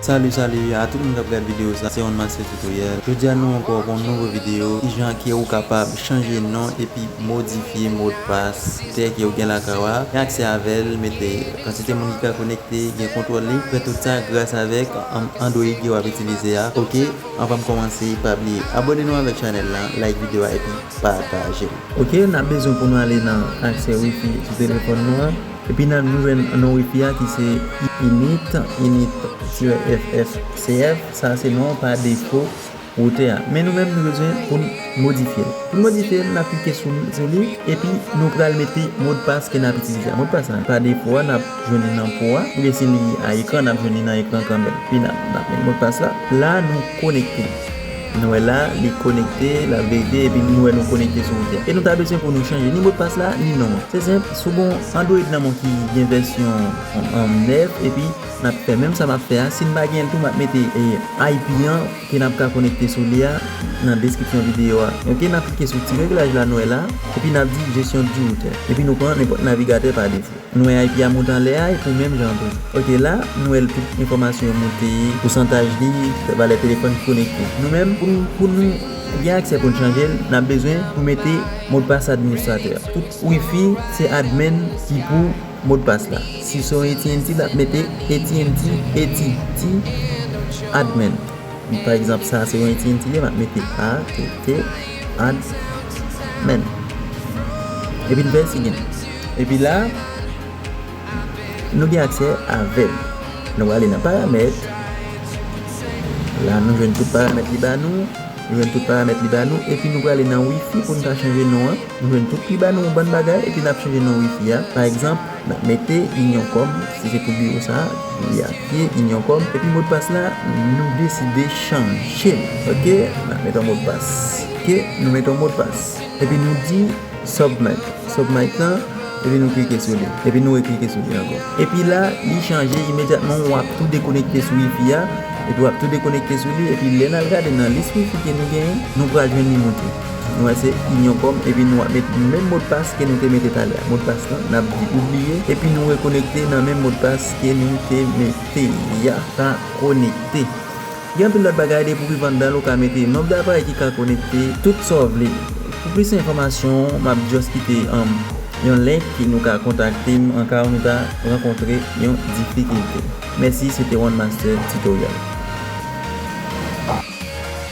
Salut salut a tout moun kap gad video sa se Onmaster tutoriel jodia nou anko ak yon nouvo video kijan ke ou kapab chanje non epi modifye modpas tè ke ou gen lakay ou a gen aksè avèl mete kantite moun ki ka konekte gen kontrol li fè tout sa gras avèk android ke wap itilize a ok anvan m komanse pa bliye abone nou avèk chanèl lan like video a epi patajel. Ok nap bezwen pou nou ale nan aksè wifi sou telefòn nou an epi nap jwenn non wifi a ki se init init tirè ff cf sa se non pa defo routè a men nou menm nou bezwen poun modifyel poun modifyel nap klike sou li epi nou pral mete modpas ke nap itilize a modpas la pa defo a nap jwenn li nan po a oubyen si li a ekran nap jwenn li nan ekran kanmenm epi nap met modpas la la nou konekte. Nou wè la li konekte, lap vérité epi nou wè nou konekte sou outil a. E nou ta bezwen pou nou chanje ni modpas la, ni non an. Se senp, sou bon Android nan bon ki gen vèsyon 9 epi nap fè menm sa map fè a, si n pa genyen l tou map mete IP an ke nap ka konekte sou li a nan deskripsyon videyo a. Ok nap klike sou ti reglaj la nou wè la, epi nap di gestion du routeur. Epi nou pran nenpòt navigatè pa defo. Nou wè Ayiti a moute anlè a epi menm jan an tou. Ok la, nou wè l tout enfòmasyon yo moute, pousantaj li, valè telefòn ki konekte. Nou menm, pou nou pou nou gen aksè pou n chanje l, n ap bezwen pou mete modpas administratè. Tout wifi se admin ki pou modpas la. Si se yon AT&T l ap mete AT&T, eti, ti, admin. Li pa egzanp sa a se yon iti entire m ap mete a te te ad mèn. Epi n vèsi gen. Epi la a nou gen aksè a vèb. Nou prale nan paramèt. La nou jwenn tout paramèt li ba nou. Nou jwenn tout paramèt li ba nou. Epi nou prale nan wifi pou n ka chanje non an. Nou jwenn tout li ba nou yon bann bagay epi n ap chanje non wifi a. Pa egzanp. N ap mete Inyon kòm, si se pou biwo sa a, li ap ye Inyon kòm. Epi modpas la, nou deside chanje l. Ok. N ap met yon modpas. Ok. Nou met yon modpas. Epi nou di Submit. Submit lan, epi nou klike sou li. Epi nou reklike sou li ankò. Epi la, li chanje imedyatman. W ap tou dekonekte sou Wi-Fi a. Epi w ap tou dekonekte sou li. Epi lè n al gade nan lis Wi-Fi ke nou genyen, nou pral jwenn li monte. Nou wè se Union Com epi nou ap met menm modpas ke nou te mete talè a. Modpas lan nap di ou bliye epi nou rekonekte nan menm modpas ke nou te mete ya. Ka konekte. Gen anpil lòt bagay depi ou rive anndan l ou ka mete nonb de aparèy ki ka konekte, tout sa w vle. Pou plis enfòmasyon map just kite yon link ke nou ka kontakte m an ka ou nou ta rankontre yon difikilte. Mèsi se te one master tutorial.